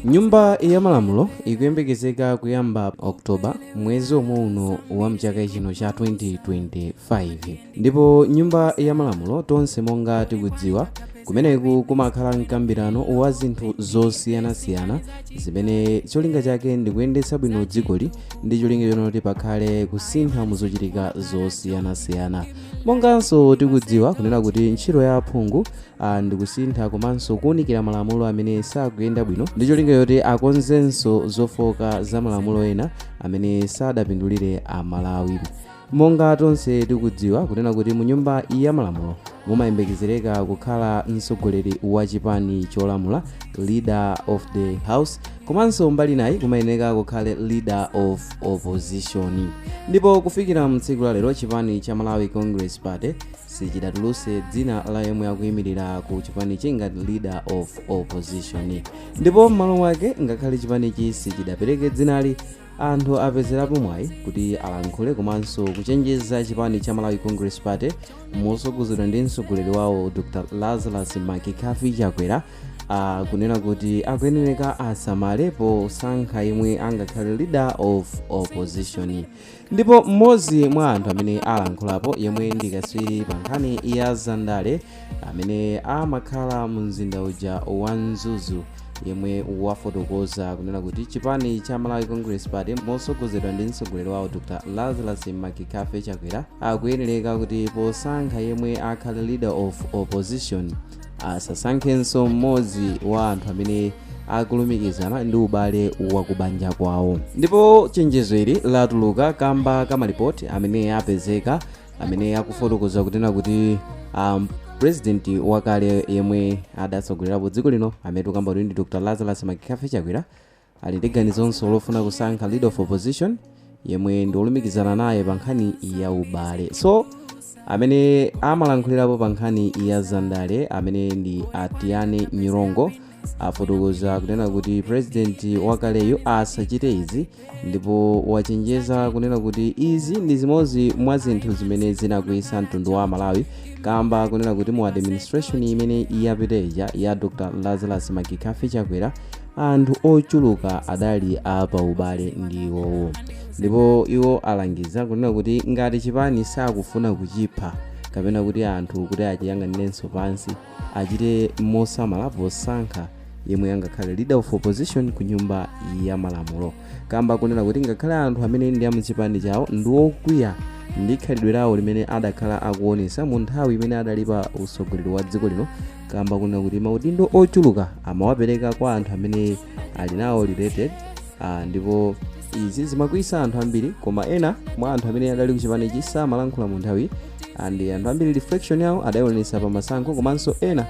nyumba ya malamulo ikuyembekezeka kuyamba oktoba mwezi omwe uno wa mchaka chino cha 2025 ndipo nyumba ya malamulo tonse monga tikudziwa kumeneku kumakhala mkambirano wa zinthu zosiyanasiyana zimene cholinga chake ndi kuyendetsa bwino dzikoli ndi cholinga chonena kuti pakhale kusintha mu zochitika zosiyanasiyana monganso tikudziwa kunena kuti ntchito ya aphungu ah, ndi kusintha komanso kuwunikira malamulo amene sakuyenda bwino ndi cholinga choti akonzenso zofooka za malamulo ena amene sadapindulire amalawi monga tonse tikudziwa kunena kuti mu nyumba ya malamulo mumayembekezereka kukhala mtsogoleri wa chipani cholamula leader of the house komanso mbali inayi kumayeneka kukhale leader of opposition ndipo kufikira mtsiku la lero chipani cha malawi congress party sichidatuluse dzina la yemwe akuyimirira ku chipanichi ngati leader of opposition ndipo m'malo mwake ngakhale chipanichi sichidapereke dzinali anthu apezerapo mwayi kuti alankhule komanso kuchenjeza chipani cha malawi congress party mosogozedwa ndi mtsogoleri wawo dr lazarus mccarthy chakwera kunena kuti akuyenereka asamale posankha yemwe angakhale leader of opposition Ndipo mmodzi mwa anthu amene alankhulapo yemwe ndi katswiri pa nkhani ya zandale amene amakhala mu mzinda uja wa Mzuzu yemwe wafotokoza kunena kuti chipani cha Malawi Congress Party motsogozedwa ndi mtsogoleri wawo Dr. Lazarus McCarthy Chakwera akuyenereka kuti posankha yemwe akhale leader of opposition asasankhenso mmodzi wa anthu amene akulumikizana ndi ubale wa kubanja kwawo ndipo chenjezo ili latuluka kamba ka malipoti amene apezeka amene akufotokoza kunena kuti um, president wakale yemwe adatsogolerapo dziko lino amene tikukamba kuti ndi dr lazarus mccarthy chakwera ali ndi ganizonso lofuna kusankha leader of opposition yemwe ndi olumikizana naye pa nkhani ya ubale so amene amalankhulirapo pa nkhani ya zandale amene ndi atiane nyirongo afotokoza kunena kuti president wakaleyu asachite izi ndipo wachenjeza kunena kuti izi ndi zimodzi mwa zinthu zimene zinakwiyitsa mtundu wa amalawi kamba kunena kuti mu administration imene yapita ija ya dr lazarus mccarthy chakwera anthu ochuluka adali a paubale ndi iwowo ndipo iwo alangiza kunena kuti ngati chipani sakufuna kuchipha kapena kuti anthu kuti achiyang'anirenso pansi achite mosamala posankha yemwe angakhale leader of opposition ku nyumba ya malamulo kamba kunena kuti ngakhale anthu amene ndi amchipani chawo ndi okwiya ndi khalidwe lawo limene adakhala akuonesa mu nthawi imene adali pa utsogoleri wa dziko lino kamba kunena kuti maudindo ochuluka amawapereka kwa anthu amene ali nawo related ah, ndipo izi zimakwiyisa anthu ambiri koma ena mwa anthu amene adali kuchipanichi samalankhula mu nthawi and anthu ambiri reflection yawo adayionesa pa masankho komanso ena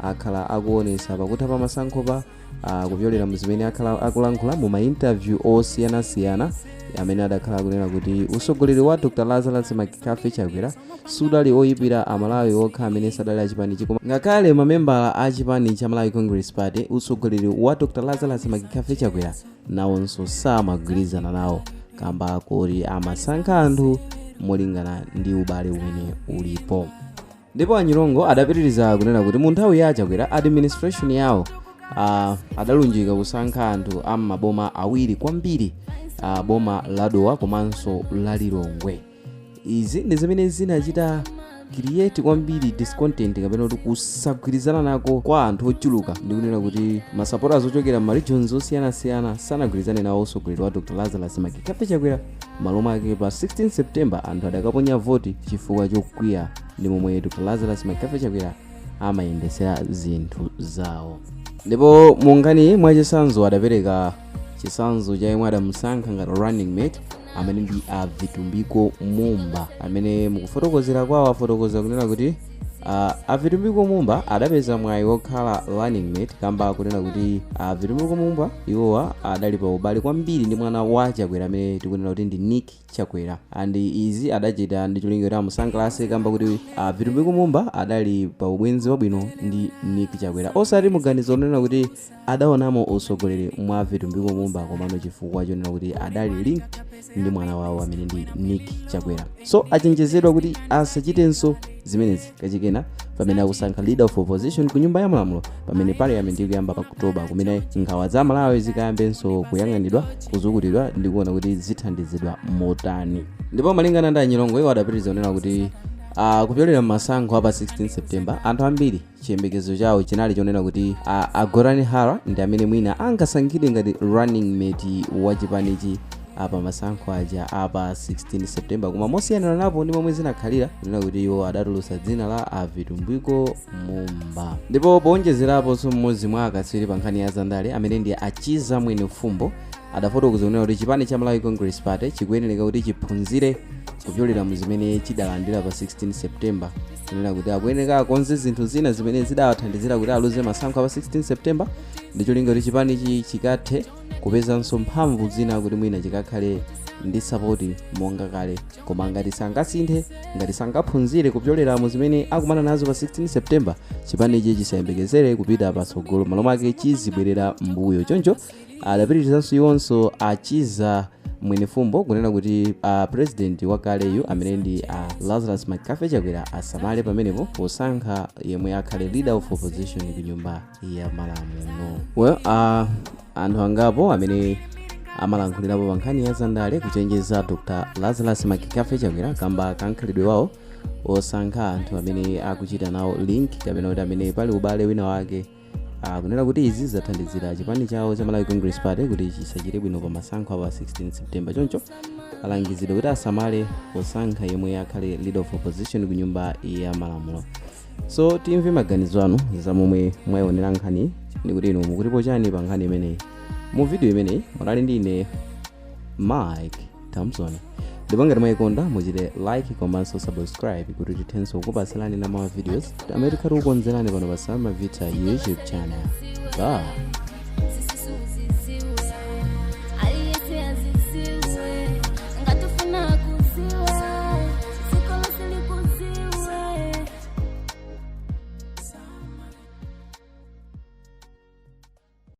akhala akuonesa pakutha pa masankho pa uh, kupyolera mu zimene akhala akulankhula mu mainterview osiyanasiyana amene adakhala akunena kuti usogoleri wa dr lazarus mccarthy chakwera sudali oyipira amalawi okha amene sadali achipanichi koma ngakhale mamembala a chipani cha malawi congress party usogoleri wa dr lazarus mccarthy chakwera nawonso samagwirizana nawo kamba kuti amasankha anthu molingana ndi ubale umene ulipo ndipo a nyirongo adapitiriza kunena kuti mu nthawi ya achakwera administration yawo ah, adalunjika kusankha anthu a m'maboma awiri kwambiri ah, boma la dowa komanso la lilongwe izi ndi zimene zinachita create kwambiri discontent kapena kuti kusagwirizana nako kwa anthu ochuluka ndikunena kuti masapotaz ochokera m'maregions osiyanasiyana sanagwirizane nawo usogoleri wa dr lazarus mccarthy chakwera M'malo mwake, pa 16 September anthu adakaponya voti chifukwa chokwiya ndi momwe Dr. Lazarus Mccarthy Chakwera amayendetsera zinthu zawo. Ndipo Munkhani mwachitsanzo adapereka chitsanzo cha yemwe adamusankha ngati running mate amene ndi a Vitumbiko Mumba amene mukufotokozera kwawo afotokoza kunena kuti Uh, avitumbiko mumba adapeza mwayi wokhala running mate kamba kunena kuti avitumbiko mumba iwowa adali pa ubale kwambiri ndi mwana wa chakwera amene tikunena kuti ndi nick chakwera and izi adachita ndi cholinga kuti amusangalatse kamba kuti avitumbiko mumba adali pa ubwenzi wabwino ndi nick chakwera osati muganizo onena kuti adaonamo utsogoleri mwa vitumbiko mumba komano chifukwa chonena kuti adali linked ndi mwana wawo amene ndi nick chakwera so achenjezedwa kuti asachitenso zimenezi kachikena pamene akusankha leader of opposition ku nyumba ya malamulo pamene parliament ikuyamba pa oktoba kumene nkhawa za amalawi zikayambenso kuyang'anidwa kuzukutidwa ndi kuona kuti zithandizidwa motani ndipo malingana ndi anyirongo iwo adapitiriza kunena kuti Uh, kupyolera m'masankho a pa 16 september anthu ambiri chiyembekezo chawo chinali chonena kuti a, a gotani hara ndi amene mwina angasankhidwe ngati running mate wa chipanichi apa masankho aja apa 16 september koma mosiyaniranapo ndi momwe zinakhalira kunena kuti iwo adatulutsa dzina la avitumbiko mumba ndipo powonjezeraponso mmodzi mwa akatswiri pa nkhani ya zandale amene ndi achiza mwenifumbo adafotokoza kunena kuti chipani cha malawi congress party chikuyenereka kuti chiphunzire kupyolera mu zimene chidalandira pa 16 september kunena kuti akuyenera akonze zinthu zina zimene zidawathandizira kuti aluze masankho a pa 16 september ndi cholinga kuti chipanichi chikathe kupezanso mphamvu zina kuti mwina chikakhale ndi sapoti monga kale koma ngati sangasinthe ngati sangaphunzire kupyolera mu zimene akumana nazo pa 16 september chipanichi chisayembekezere kupita patsogolo malo mwake chizibwerera mbuyo choncho adapitirizanso iwonso a chiza mwenifumbo kunena kuti a president wakaleyu amene ndi a lazarus mccarthy chakwera asamale pamenepo posankha yemwe akhale leader of opposition ku nyumba ya malamulo well, uh, anthu angapo amene amalankhulirapo pa nkhani ya zandale kuchenjeza dr lazarus mccarthy chakwera kamba ka mkhalidwe wawo osankha anthu amene akuchita nawo link kapena kuti amene pali ubale wina wake kunena kuti izi zathandizira chipani chawo cha malawi congress party kuti chisachite bwino pa masankho a pa 16 september choncho alangizidwa kuti asamale posankha yemwe akhale leader of opposition ku nyumba ya malamulo so timve maganizo anu za momwe mwayionera nkhani ndi kuti inu mukutipo chani pa nkhani imeneyi mu video imeneyi munali ndi ine mike thompson ndipo ngati mwayikonda muchite like komanso subscribe kuti tithenso kukupatsirani ena mwa ma videos amene tikhale tikukonzerani pano pa salma vita youtube channel bye